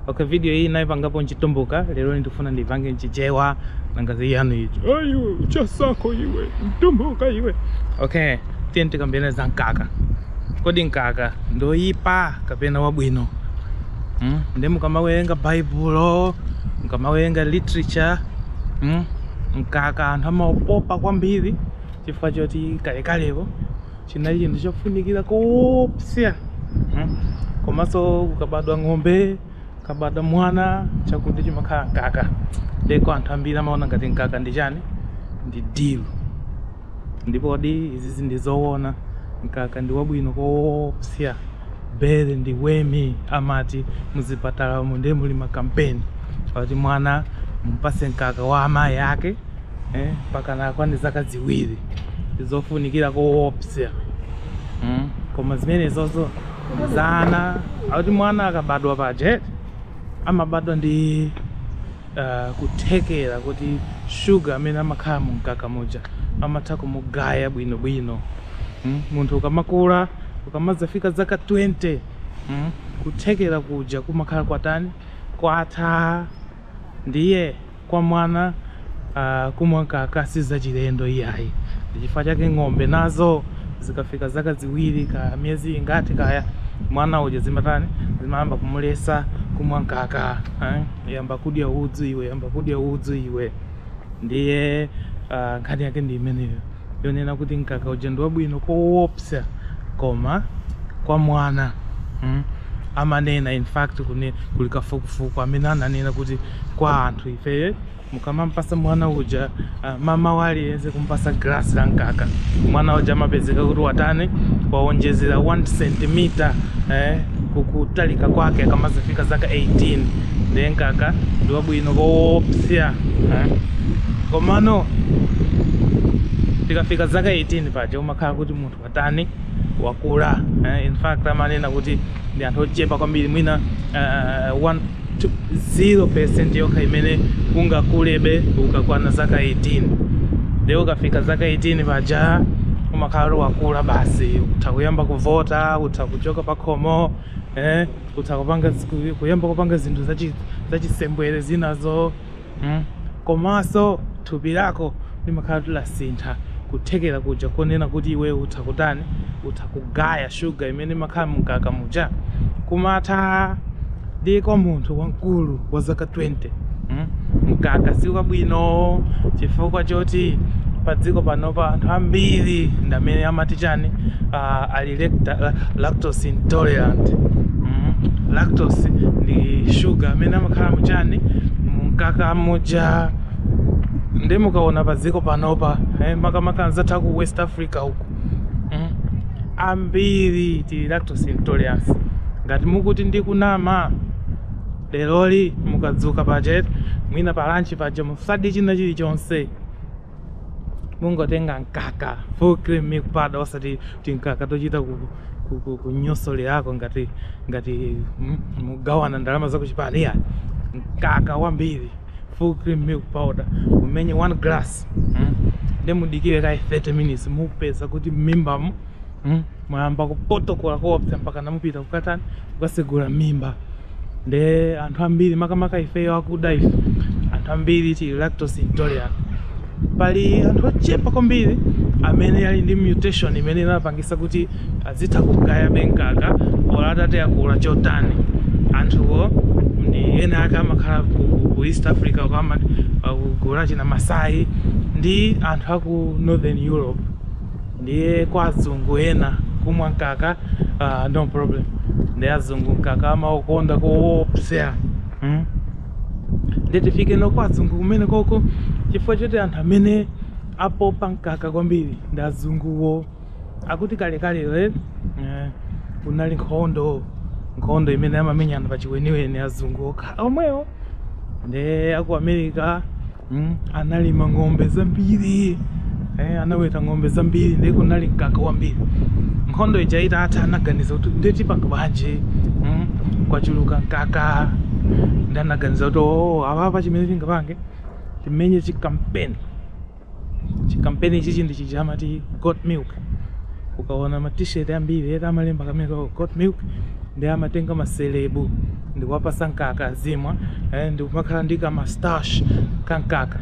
Okay, video iyi naipangapo nchitumbuka lero ndikufuna ndipange nchichewa nangazi yanu icho ayo chasako iwe mtumbuka iwe okay tiyeni tikambirane za mkaka kodi mkaka ndoyipa kapena wabwino mm? nde mukamawerenga baibulo mukamawerenga literature mm? mkaka anthu amaupopa kwambiri chifukwa choti kalekalepo chinali chinthu chofunikira koopsa hmm? komanso ukabadwa ng'ombe ukabadwa mwana chakudya chimakhala mkaka ndeko anthu ambiri amaona ngati mkaka ndi chani ndi dilu ndipodi izizi ndi zoona mkaka ndi wabwino koopsa bere ndi wemi amati muzipatala umu ndiye muli makampeni ati mwana mpase mkaka wa amayi ake eh, mpaka atakwana zaka ziwiri ndizofunikira koopsa mm. koma zimenezozo nzonena kuti mwana akabadwa paje amabadwa ndi uh, kuthekera kuti shuga amene amakhala mu mkaka muja amatha kumugaya bwinobwino mm. munthu ukamakula ukamazafika zaka 20 mm. kuthekera kuja kumakhala kwatani kwatha ndiye kwa mwana kumwa mkaka si zachilendo iyayi. Ndi chifukwa chake ng'ombe nazo zikafika zaka ziwiri kaya miyezi ingati kaya, mwana uja zimatani, zimayamba kumuletsa kumwa mkaka. Yamba kudya udzu iwe, yamba kudya udzu iwe. Ndiye nkhani yake ndi imeneyo. yonena kuti mkaka uja ndi wabwino kowopsa koma kwa mwana mm, amanena in fact kuli kafukufuku amene ananena kuti kwa anthu ifeyo mukamampasa mwana uja uh, mmawa uliwonse kumpasa glasi la mkaka mwana uja amapezeka kuti watani wawonjezera 1 cm eh, kukutalika kwake akamazafika zaka 18 ndiye mkaka ndi wabwino koopsa eh. komano tikafika zaka 18 paja umakhala kuti munthu watani wakula eh, in fact amanena kuti ndi anthu ochepa kwambiri mwina uh, one, two, 0% yokha imene ungakulebe ukakwana zaka 18 nde ukafika zaka 18 paja umakhala kuti wakula basi utha kuyamba kuvota utha kuchoka pakhomo eh, utha kupanga kuyamba kupanga zinthu zachisembwere zinazo mm. komanso thupi lako limakhala kuti lasintha kuthekera kuja konena kuti iwe utha kutani utha kugaya shuga imene imakhala mu mkaka muja kumatha nde kwa munthu wamkulu wa zaka 20 hmm? mkaka si wabwino chifukwa choti pa dziko panopa anthu ambiri ndamene amati chani uh, ali lecta- lactose intolerant mm. lactose ndi shuga amene amakhala muchani mkaka muja nde mukaona pa dziko panopa eh, makamaka anzathu ku west africa uku mm. ambiri tili lactose intolerance ngati mukuti ndikunama leroli mukadzuka paje mwina pa lunch paja musadye china chilichonse mungotenga mkaka full cream milk powder osati timkaka tochita ku ku- ku- kunyosolerako ngati ngati mm, mugawana ndalama zakuchipani iya mkaka wambiri full cream milk powder mumenye one glass mm. nde mudikire kaye 30 minutes mupeza kuti m'mimbamo mm, mwayamba kupotokola koopsa mpaka namupita kukatani kukasegula m'mimba nde anthu ambiri makamaka ifeyo akuda ife anthu ambiri tili lactose intolerant pali anthu ochepa kwambiri amene ali ndi mutation imene inapangisa kuti azitha kugayabe mkaka olo atati akula chotani anthuwo ndi ena ake amakhala ku, ku, ku east africa uko ama- akuguula china masai ndi anthu aku northern europe ndiye kwa azungu ena kumwa mkaka uh, no problem ndiye azungu mkaka amaukonda koopsa hmm? ndiye tifikeno kwa azungu kumene koko chifukwa choti anthu amene apopa mkaka kwambiri ndi azunguwo akuti kalekale le eh, kunali nkhondo nkhondo imene amamenyana pa chiweniweni azungu okha omwewo nde aku america mm, analima ng'ombe zambiri eh, anaweta ng'ombe zambiri nde kunali mkaka wambiri nkhondo ija itatha anaganiza kuti nde tipanga bwanji mm, kwachuluka mkaka nde anaganiza kuti oo apapa chimene tingapange timenye chikampeni chikampeni ichichi ndi chija amati got milk ukaona ma t-shirt ambiri eti amalemba kamene got milk nde amatenga maselebu ndikuwapasa mkaka azimwa eh, ndikumakhala ndi kamastash ka mkaka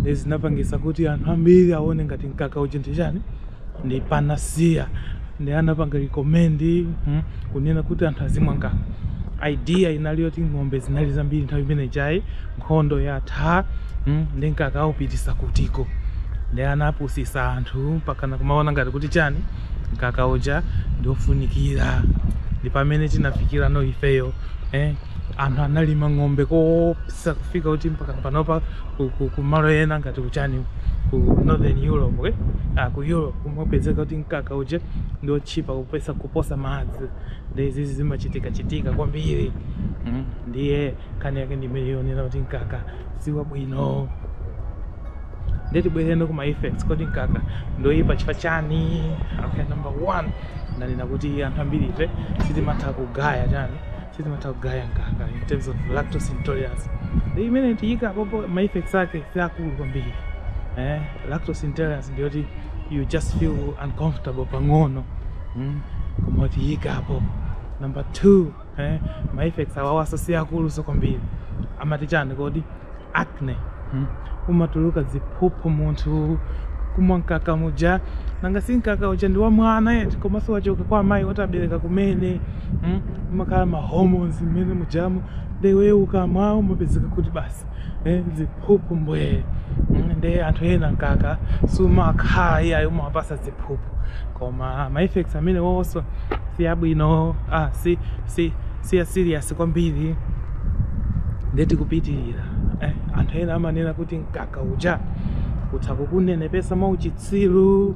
nde zinapangisa kuti anthu ambiri aone ngati mkaka uja ndi chani ndi panacea nde anapanga recommend mm, kunena kuti anthu azimwa mkaka idea inali yoti ng'ombe zinali zambiri nthawi imene ijayi nkhondo yatha mm, nde mkaka aupitisa kutiko nde anapusisa anthu mpakana kumaona ngati kuti chani mkaka uja ndi ofunikira ndi pamene tinafikirano ifeyo eh, anthu analima ng'ombe koopsa kufika kuti mpaka panopa ku- ku- kumalo ena ngati kuchani ku northern europe eh? ah, ku europe kumapezeka kuti mkaka uja ndi otchipa kupo- kuposa madzi ndiye izizi zimachitika chitika kwambiri mm. ndiye nkhani yake ndimayinena kuti mkaka si wabwino ndiye tibwereno kuma effects kodi mkaka ndoyipa chifukwa chani okay number one ndanena kuti anthu ambiri ife sitimatha kugaya chani sitimatha kugaya mkaka in terms of lactose intolerance ndiye imeneyo tiyika pompo ma effects ake si akulu kwambiri eh, lactose intolerance ndiyoti you just feel uncomfortable pang'ono mm? koma tiyika apo number two eh, ma effects awawanso si akulunso kwambiri amati chani kodi acne hmm? umatuluka ziphuphu munthu kumwa mkaka muja nanga si mkaka uja ndi wa mwana eti komanso wachoka kwa amayi oti abereka kumene hmm? umakhala ma hormones mmenemujamo nde iwe ukamwa umapezeka kuti basi eh, ziphuphu mbwee mm, nde anthu ena mkaka sumakhala iyayi umawapatsa ziphuphu koma ma effects amenewonso si abwino ah, si, si, si a serious kwambiri nde tikupitirira eh, anthu ena amanena kuti mkaka uja utha kukunenepesa mwauchitsiru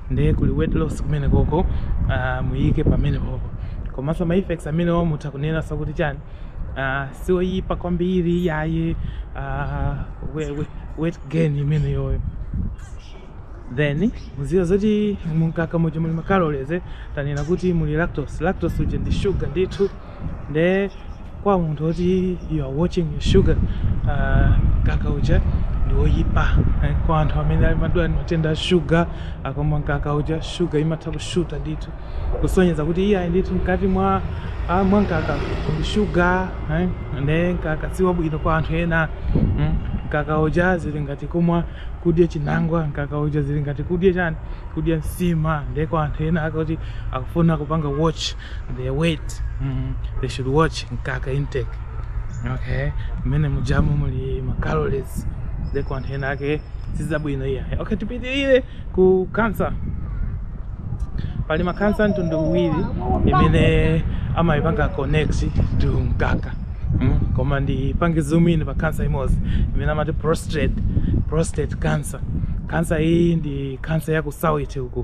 ndiye kuli weight loss kumenekoko uh, muyike pamenepopo komanso ma effects amenewo mutha kunena si akuti chani uh, siwoyipa kwambiri iyayi uh, we, we, weight gain imeneyoyo then mudziwe zoti mumkaka muja muli macalories eh, tanena kuti muli lactose lactose uja ndi sugar ndithu nde kwa munthu oti you are watching your sugar uh, mkaka uja ndi woyipa eh, kwa anthu amene amadwala matenda a shuga akamwa mkaka uja shuga imatha kushuta ndithu kusonyeza kuti iyayi ndithu mkati mwa ah, mwa mkaka ndi shuga eh, nde mkaka si wabwino kwa anthu ena mm. mkaka uja zili ngati kumwa kudya chinangwa mkaka uja zili ngati kudya chani kudya nsima nde kwa anthu ena akuti akufuna kupanga watch their weight mm, they should watch mkaka intake okay mmenemujamu muli ma calories nde kwa anthu enaake sizabwino iyayi okay tipitirire ku cancer pali ma cancer a mtundu uwiri imene amayipanga connect to mkaka mm? koma ndipange zoom in pa cancer imodzi imene amati prostate prostate cancer cancer iyi ndi cancer ya ku south uku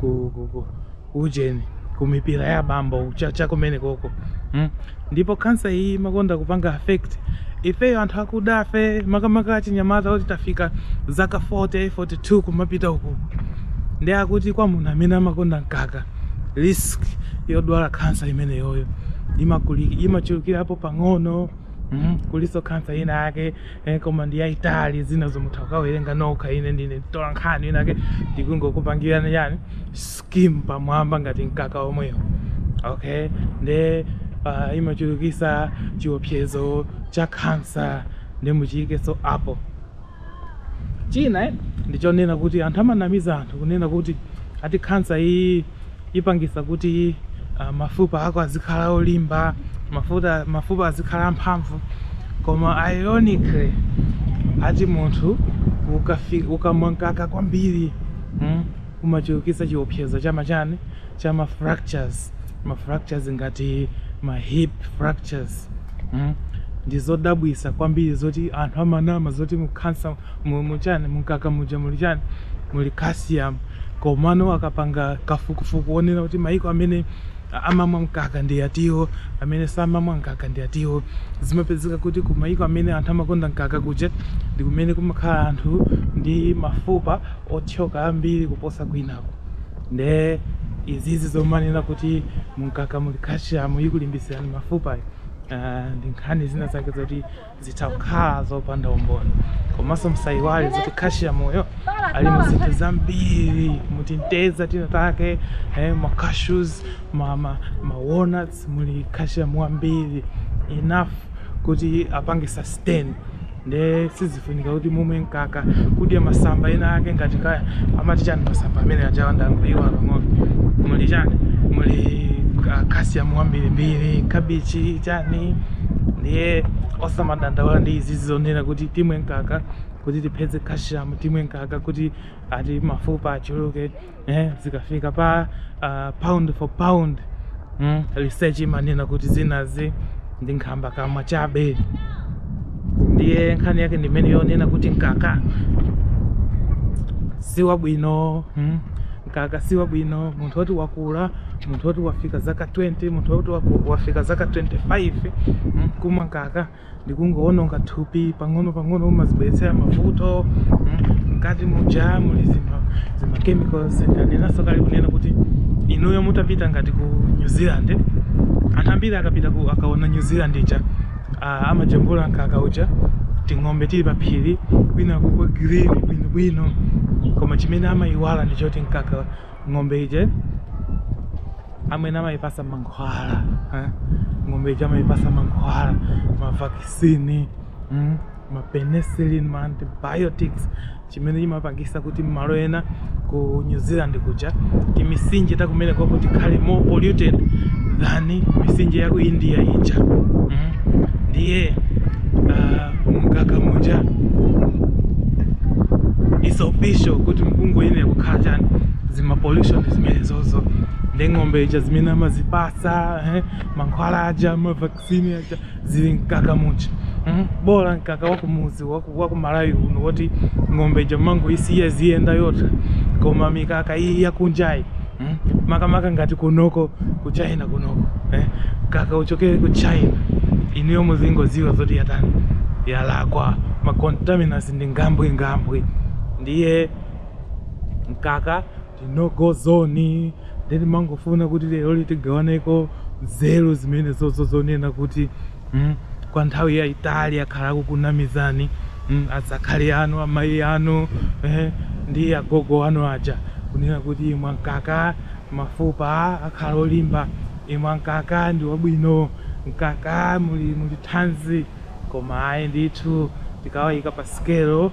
ku, ku, ku ujeni kumipira ya bambo cha kumenekoko mm? ndipo kansa iyi imakonda kupanga affect ifeyo anthu akudafe makamaka achinyamata oti tafika zaka 40 42 kumapita uku nde akuti kwa munthu amene amakonda mkaka risk yodwala kansa imeneyoyo imakuli- imachulukirapo pang'ono mm? kulinso kansa ina yake Eh, koma ndi yaitali zinazo mutha ukawerenga nokha ine ndine mtola nkhani inake ndikungokupangirani yani skim pamwamba ngati mkaka omweyo okay nde uh, imachulukisa chiopsezo cha kansa nde muchiyikenso apo china eh, ndichonena kuti anthu amanamiza anthu kunena kuti ati kansa iyi ipangisa kuti uh, mafupa ako azikhala olimba mafuta, mafupa azikhala amphamvu koma ironically ati munthu ukafi- ukamwa mkaka kwambiri mm, umachulukisa chiopsezo cha machani cha ma fractures ma fractures ngati ma hip fractures mm. ndizodabwisa kwambiri zoti anthu amanama zoti mukansa mu mu chani mumkaka muja muli chani muli calcium komano akapanga kafukufuku wonena kuti maiko amene amamwa mkaka ndi atiwo amene samamwa mkaka ndi atiwo zimapezeka kuti ku maiko amene anthu amakonda mkaka kuja ndi kumene kumakhala anthu ndi mafupa othyoka ambiri kuposa kwinako nde izizi zomanena kuti mumkaka muli calcium ikulimbitsirani mafupa uh, ndi nkhani zina zake zoti zitakhala zopanda umboni komanso msayiwale zoti calcium-yo ali mu zinthu zambiri mutinteza tina take eh, ma cashews ma, ma, ma walnuts muli calcium wambiri enough kuti apange sustain nde sizifunika kuti mumwe mkaka kudya masamba ena ake ngati kaya amati chani masamba amene ajawa ndangoiwala pang'ono muli chani muli uh, calcium wambirimbiri kabichi chani ndiye osamadandaula ndi izi zonena kuti timwe mkaka kuti tipeze calcium timwe mkaka kuti ati mafupa achuluke eh, zikafika pa uh, pound for pound mm, research imanena kuti zinazi ndi nkhambakamwa chabe ndiye nkhani yake ndi imeneyo yonena kuti mkaka si wabwino mm. Mkaka si wabwino munthu woti wakula, munthu woti wafika zaka 20, munthu woti waku- wafika zaka 25 mm, kumwa mkaka ndi kungowononga thupi pang'ono pang'ono, umadzibweretsera mavuto mm, mkati muja muli zima, zima chemicals. Ndanenanso kale kunena kuti inuyo mutapita ngati ku New Zealand, anthu ambiri akapita ku akaona New Zealand ija uh, amajambula mkaka uja ting'ombe tili pa phiri kwina kwake kwa green bwinobwino koma chimene amayiwala ndi choti mkaka ng'ombe ija amene amayipasa mankhwala eh? ng'ombe ija amayipasa mankhwala mavakisini mm? mapenicillin maantibiotics chimene chimapangisa kuti mmalo ena ku new zealand kuja timisinje takumenekoko tikhale more polluted than misinje yaku india ija mm. ndiye uh, mkaka muja is official kuti mukungwine kukhala chani zima pollution zimenezozo ndi ng'ombe ija zimene amazipasa eh, mankhwala aja ma vac- sini aja zili mkaka muja mm? bola mkaka wakumuzi waku malawi uno woti ng'ombe ija mmangoisiya iziyenda yokha koma mikaka iyi yakunjayi mm? makamaka ngati kunoko ku china kunoko eh? mkaka uchokere ku china inuyo muzingoziwa zoti yatani yalakwa macontaminants ndi nyambwinyambwi ndiye mkaka ndi no go zone nde timangofuna kuti leroli tigawaneko nzeru zimenezozo zonena kuti mm, kwa nthawi yayitali akhala akukunamizani mm, azakhali anu amayi anu eh, ndi agogo anu aja kunena kuti imwa mkaka mafupa akhala olimba imwa mkaka ndi wabwino mkaka muli muli thanzi koma ayi ndithu tikawayika pa sikelo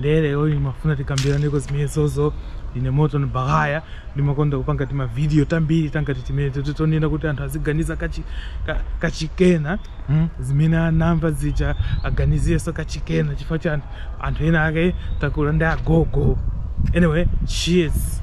ndiye lero imafuna tikambiraneko zimenezozo ine morton baghaya ndimakonda kupanga timavidiyo tambiri tangati timeneti tonena kuti anthu aziganiza kachi- ka- kachikena mm, zimene anamva zija aganizirenso kachikena chifukwa cha anthu- anthu ena ake takula ndi agogo anyway cheers